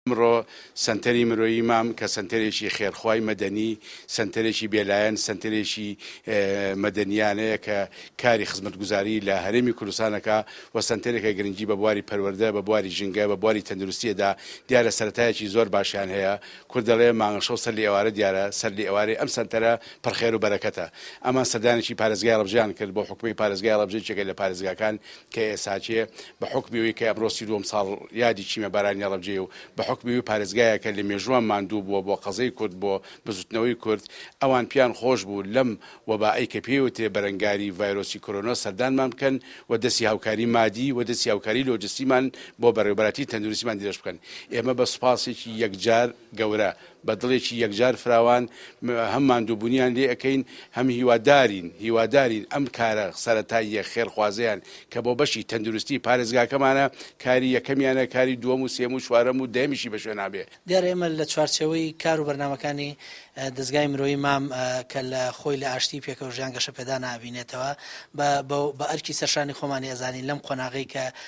ئمڕۆ سەنتەری مرۆیی مام کە سەنتەرێکی خێرخوای مەدەنی، سەنتەرێکی بێلایەن، سەنتەرێکی مەدەنیانەیە کە کاری خزمەتگوزاری لە هەرێمی کوردستان ئەکا و سەنتەرێکە گرنگی بە بواری پەروەردە، بە بواری ژینگە، بە بواری تەندروستی ئەدا، دیارە سەرەتایەکی زۆر باشیان هەیە، کورد دەڵێ مانگەشەو سەر لێ ئێوارە دیارە، سەر لێ ئێوارەی ئەم سەنتەرە پڕ خێر و بەرەکەتە. ئەمان سەردانێکی پارێزگای هەڵەبجەیان کرد، بۆ حکومەی پارێزگای هەڵەبجە یەکێکە لە پارێزگاکان کە ئێساچێ بە حوکمی ئەوی کە ئەمڕۆ سی دووەم ساڵ یادی چیمە بارانی ڕەبجەیە و بە حوکمی ئەوی پارێزگایەکە لە مێژووان ماندوو بووە بۆ قەزێی کورد بۆ بزوتنەوەی کورد ئەوان پیان خۆش بوو لەم وەبائەی کە پێی وترێ بەرەنگاری ڤایرۆسی کۆرۆنا سەردانمان بکەن و دەستی هاوکاری مادی و دەستی هاوکاری لۆجستیمان بۆ بەڕێوبەراتی تەندروستیمان درێژ بکەن ئێمە بە سوپاسێکی یەکجار گەورە بە دڵێکی یەکجار فراوان هەم ماندووبونیان لێ ئەکەین هەم هیوادارین هیوادارین ئەم کارە سەرەتاییە خێرخوازەیان کە بۆ بەشی تەندروستی پارێزگاکەمانە کاری یەکەمیانە کاری دووەم و سێم و چوارەم و دەیەمیشی بەشوێنا بێ. دیارە ئێمە لە چوارچێوەی کار و بەرنامەکانی دەزگای مرۆیی مام کە لە خۆی لە ئاشتی پێکەوەژیان گەشەپێدانە ئەبینێتەوە بە بە ئەرکی سەرشانی خۆمانی ئەزانین لەم قۆناغەی کە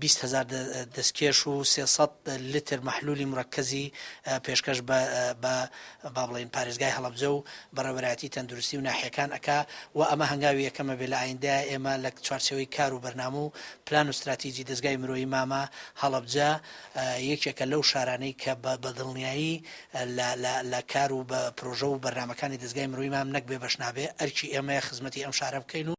بیست هەزار دەستکێش و سێ سەد لتر مەحلولی مرەکەزی پێشکەش بە بە با بڵێین پارێزگای هەڵەبجە و بەڕێوەبەرایەتی تەندروستی و ناحیەکان ئەکا و ئەمە هەنگاوی یەکەمە بێ لە ئایندە ئێمە لە چوارچێوەی کار و بەرنامە و پلان و ستراتیجی دەزگای مرۆیی مامە هەڵەبجە یەکێکە لەو شارانەی کە بە بە دڵنیایی لە لە لە کار و بە پرۆژە و بەرنامەکانی دەزگای مرۆیی مام نەک بێ بەش نابێ ئەرکی ئێمەیە خزمەتی ئەم شارە بکەین و